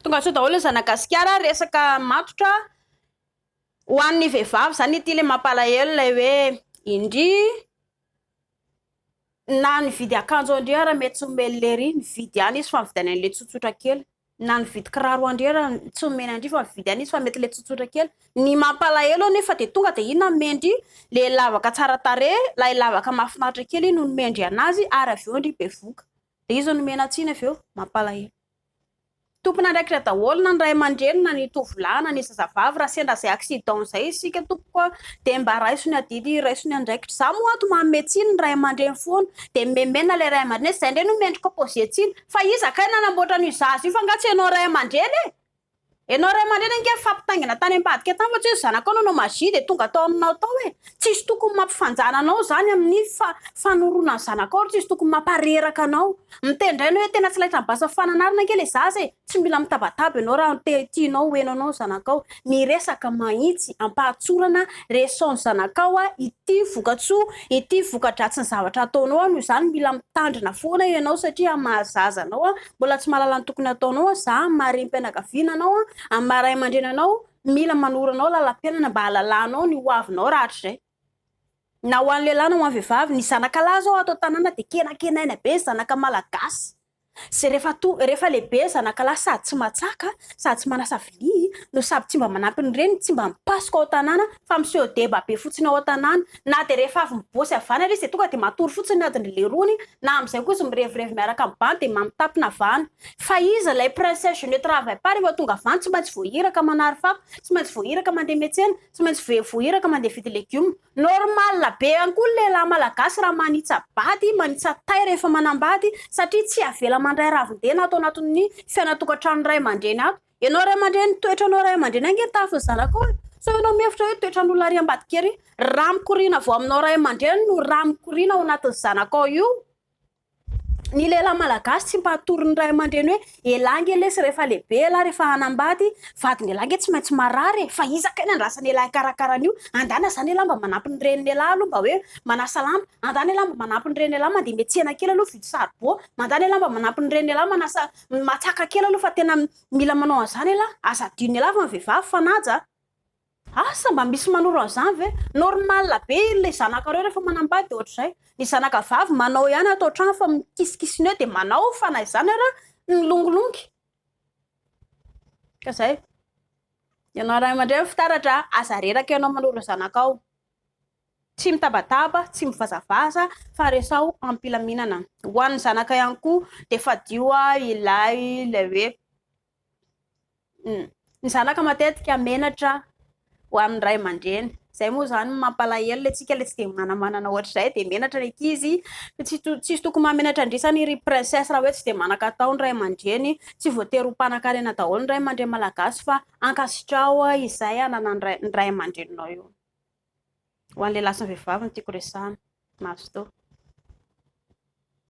Tongasoa daholo ny zanagasikara resaka matotra ho an'ny vehivavy zany ity le mampalahelo ilay hoe indry na ny vidy akanjo indry ara mety tsy omeny lery ny vidy any izy fa ny vidiny an'ilay tsotsotra kely na ny vidy kiraro andry ara tsy omeny andry fa ny vidy any izy fa mety le tsotsotra kely ny mampalahelo anefa dia tonga dia inona mendry le lavaka tsara tarehy ilay lavaka mahafinaritra kely iny no mendry anazy ary avy eo indry bevoka Dia iza no miaina tsiny avy eo? Mampalahelo. Tompon'andraikitra daholo na ny ray aman-dreny na ny tovolahy na ny zazavavy raha sendra izay accident izay isika tompoko a! dia mba raiso ny adidy raiso ny andraikitra za moa ato manome tsiny ny ray aman-dreny foana dia memena ilay ray aman-dreny zay indray no mendrika pose tsiny fa iza kay nanamboatra an'io zaza io fa nga tsy ianao ray aman-dreny e! Enao ray aman-dreny ange nifampitaingina tany ambadika tany fa tsy hoe zanakao nanao magie dia tonga tao aminao tao e! Tsisy tokony mampifanjana anao zany amin'ny fanoroana ny zanakao ary tsisy tokony mampareraka anao. Miteny indray enao hoe tena tsy laitra mibasa fananarana ange le zaza e! Tsy mila mitabataba enao raha te tianao ho henonao ny zanakao. Miresaka mahitsy, ampahatsorana, resao ny zanakao a! Ity vokatsoa, ity vokadratsiny zavatra ataonao a! Noho izany mila mitandrina foana enao satria maha zaza anao a! Mbola tsy mahalala ny tokony hataonao an, za amin'ny maha renim-pianakaviana anao an, amin'ny maha ray aman-dreny anao, mila manoro anao lalam-piainana mba hahalalanao ny ho avinao rahatrizay. Na ho an'ny lehilahy na ho an'ny vehivavy, ny zanakalahy zao ato an-tanàna dia kenakenaina be ny zanaka malagasy. Izay rehefa to- rehefa lehibe zanakalahy sady tsy matsaka, sady tsy manasa vilia, no sady tsy mba manampy ny reniny, tsy mba mipasoka ao an-tanàna, Fa miseho deba be fotsiny ao an-tanàna. Na dia rehefa avy mibôsy avy any ary izy dia tonga dia matory fotsiny ny adin'ny leirony, na amin'izay koa izy mirevirevy miaraka amin'ny bandy dia mamitapy na vano. Fa iza ilay princesse je ne travaille pas rehefa tonga avy any? Tsy maintsy voahiraka manary fako, tsy maintsy voahiraka mandeha miatsena, tsy maintsy voe voahiraka mandeha hividy legioma. Normal be ihany koa ny lehilahy malagasy raha manitsa-bady, manitsa-tay rehefa manambady satria tsy avela mandray ravin-dena ato anatin'ny fiainan-tokantrano ray aman-dreny ato. Ianao ray aman-dreny, toetranao ray aman-dreny ange ny tahafin'ny zanakao e! Sao ianao mihevitra hoe toetran'olona ary ambadika ery? Rà mikoriana avy ao aminao ray aman-dreny no rà mikoriana ao anatin'ny zanakao io. Ny lehilahy malagasy tsy mba hatory ny ray aman-dreny hoe elah ange lesy rehefa lehibe elah rehefa hanambady, vadin'elah ange tsy maintsy marary e! Fa iza kay ny andrasan'elah hikarakara an'io? Andana izany elah mba manampy ny renin'elah aloha mba hoe manasa lamba, andana elah mba manampy ny renin'elah mandeha miantsena kely aloha hividy saribao, mandana elah mba manampy ny renin'elah manasa Matsaka kely aloha fa tena mila manao an'izany elah, aza adino elah fa ny vehivavy fanaja a! Asa mba misy manoro an'izany ve? Normal be ilay zanakareo rehefa manambady ohatr'izay. Ny zanaka vavy manao ihany ato an-trano fa mikisikisina eo dia manao fa na izany ary milongilongy. Ka izay. Ianao ray aman-dreny fitaratra a! Aza reraka ianao manoro ny zanakao. Tsy mitabataba, tsy mivazavaza fa resaho am-pilaminana. Ho an'ny zanaka ihany koa dia fadio ilay ilay hoe ny zanaka matetika menatra ho an'ny ray aman-dreny. Izay moa izany no mampalahelo, ilay tsika ilay tsy dia manamanana ohatr'izay dia menatra ny ankizy. Tsy to- tsisy tokony mahamenatra an-dresany ry princesse raha hoe tsy dia manan-katao ny ray aman-dreny. Tsy voatery ho mpanankarena daholo ny ray aman-dreny malagasy fa ankasitraho izay ananan'ny ray ny ray aman-dreninao eo. Ho an'ny lehilahy sy ny vehivavy no tiako resahana. Mazotoa.